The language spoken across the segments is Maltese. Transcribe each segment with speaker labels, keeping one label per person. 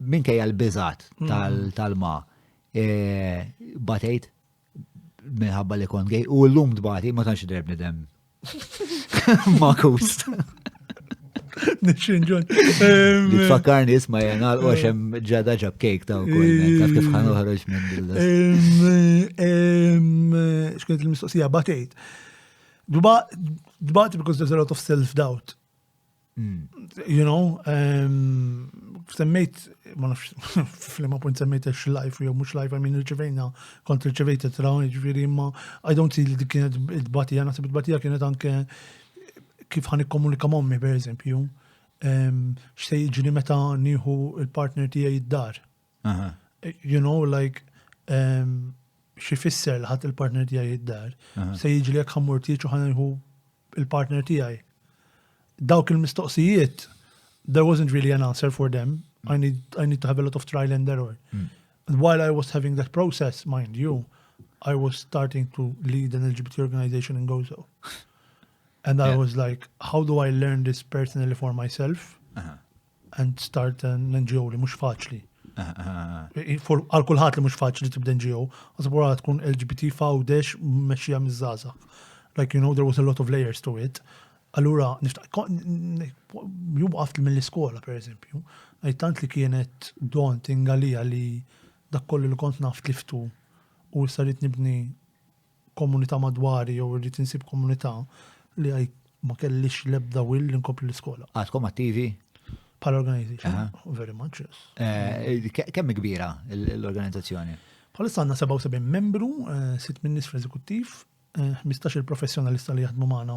Speaker 1: minkejja l-biżat mm. tal-ma e, batejt minħabba li kont gej u l-lum dbati ma tantx drebni dem. Ma kust. Nixinġun.
Speaker 2: Tfakkarni
Speaker 1: isma jena u għaxem ġada ġab kejk ta' u taf kif ħan uħroġ minn dil-list.
Speaker 2: Xkent il-mistoqsija, batejt. Dbati because there's a lot of self-doubt. You know, semmejt, ma nafx, fl-ma punt semmejt ex life, jew mux life, għamin rċivejna, kont rċivejt it-tra, ġviri, ma I don't see li dik kienet id-batija, nasib id-batija kienet anke kif ħan ikkomunika mommi, per eżempju, xsej ġini meta nieħu il-partner tijaj id-dar. You know, like, um, xi fisser li ħadd il-partner tiegħi id-dar, se jiġi li jekk ħammur tieġ u ħanħu il-partner tiegħi. Dawk il-mistoqsijiet, there wasn't really an answer for them. I need, I need to have a lot of trial and error. Mm. And while I was having that process, mind you, I was starting to lead an LGBT organization in Gozo. And I yeah. was like, how do I learn this personally for myself? Uh -huh. and start an NGO li mhux faċli. Għal kulħadd li mhux faċli tibda NGO, għasab wara tkun LGBT fawdex mexxija miż-żgħażagħ. Like you know there was a lot of layers to it. Allura jum għaft mill-iskola pereżempju, għajt tant li kienet daunting għalija li dak kollu li kont naf tliftu u issa nibni komunità madwari jew irrid insib komunità li għajt ma kellix l-ebda will li nkompli l-iskola. Għadkom attivi?
Speaker 1: Pal
Speaker 2: organization, very much, yes. Eh, kemm kbira
Speaker 1: l-organizzazzjoni? Bħalissa għandna 77
Speaker 2: membru, eh, sitt minnis fl-eżekuttiv, 15 eh, il-professjonalista li jaħdmu magħna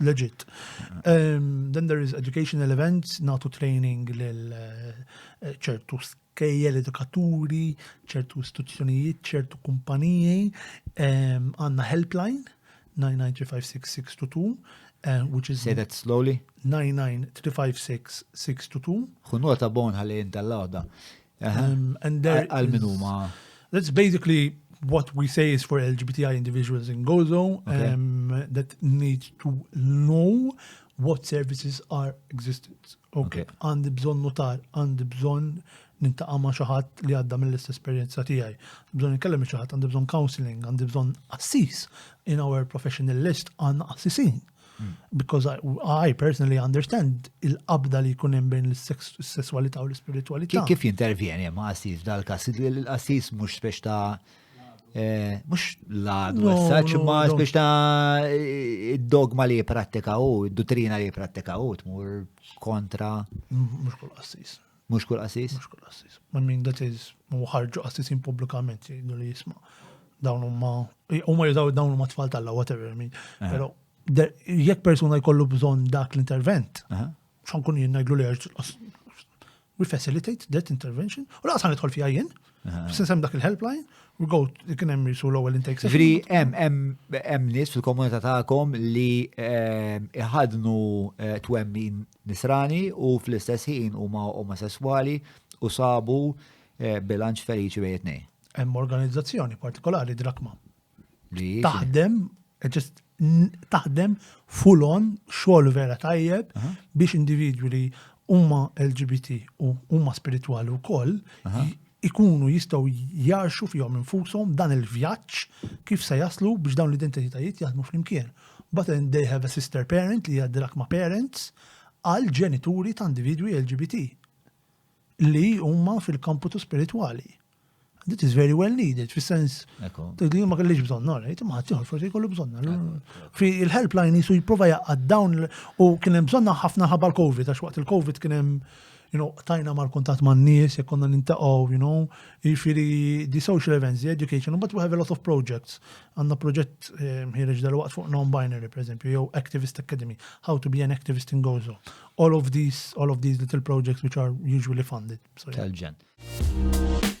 Speaker 2: legit. Um, then there is educational events, natu training lil eh, ċertu kejjel edukaturi, ċertu istituzzjonijiet, ċertu kumpaniji, um, għanna helpline 9935622, uh, which is... Say that slowly. 9935622. Xunota bon ħalli
Speaker 1: jinta l-għoda.
Speaker 2: Għal min huma?
Speaker 1: That's basically
Speaker 2: what we say is for LGBTI individuals in Gozo okay. um, that need to know what services are existent. Okay, għandi bżon notar, għandi bżon nintaqa ma xaħat li għadda mill-istess esperienza tijaj. Bżon nkellem xaħat, għandi bżon counseling, għandi bżon assis. In our professional list għanna assisin. Because I, I personally understand il-qabda li jkun hemm bejn l-sessualità u l-ispiritualità. Kif jintervjeni ma'
Speaker 1: qassis dal-kas? Il-qassis mhux spex ta' eh, mhux l-għad u s-saċ, ma' spex ta' id-dogma li jiprattika u, id-dottrina li jiprattika u, tmur kontra. Mhux kull
Speaker 2: qassis. Mhux kull qassis?
Speaker 1: Mhux kull qassis. I mean
Speaker 2: that is u ħarġu qassisin pubblikament jgħidu li jisma' dawn huma huma jużaw dawn huma tfal tal-la whatever I mean. Eh. Però jekk persuna jkollu bżonn dak l-intervent, eh. xan kun jien ngħidlu li we facilitate that intervention u laqas ħanidħol fiha jien. Eh. Sinsem dak il-helpline u go kien hemm jisu l-ewwel intake. Ġifieri hemm hemm
Speaker 1: hemm nies fil-komunità tagħkom li eh, iħadnu eh, twemmin Nisrani u fl-istess ħin huma omosesswali u sabu bilanċ feliċi bejn it-tnejn. Hemm organizzazzjoni
Speaker 2: partikolari Drakma. Li
Speaker 1: taħdem ġest
Speaker 2: taħdem full on xogħol vera tajjeb biex individwi li huma LGBT u huma spiritwali wkoll ikunu jistgħu jgħarxu fihom infushom dan il-vjaġġ kif se jaslu biex dawn l-identitajiet jaħdmu flimkien. But then they have a sister parent li hija d-drakma parents għal ġenituri ta' individwi LGBT li huma fil-kamputu spiritwali. That is very well needed, fis sens li ma kellix bżonn, għara, jitim ħat jħor, forse jkollu bżonn. Fi il-helpline jisu jiprofa jaqqad dawn u kienem bżonna ħafna ħabba l-Covid, għax waqt il-Covid kienem you know, qtajna mal-kuntatt man-nies, jekk konna nintaqgħu, you know, jiġifieri the social events, the education, but we have a lot of projects. Għandna proġett eh, ħireġ dal-waqt fuq non-binary, per eżempju, jew Activist Academy, how to be an activist in Gozo. All of these, all of these little projects which are
Speaker 1: usually
Speaker 2: funded. So, yeah. tal-ġen.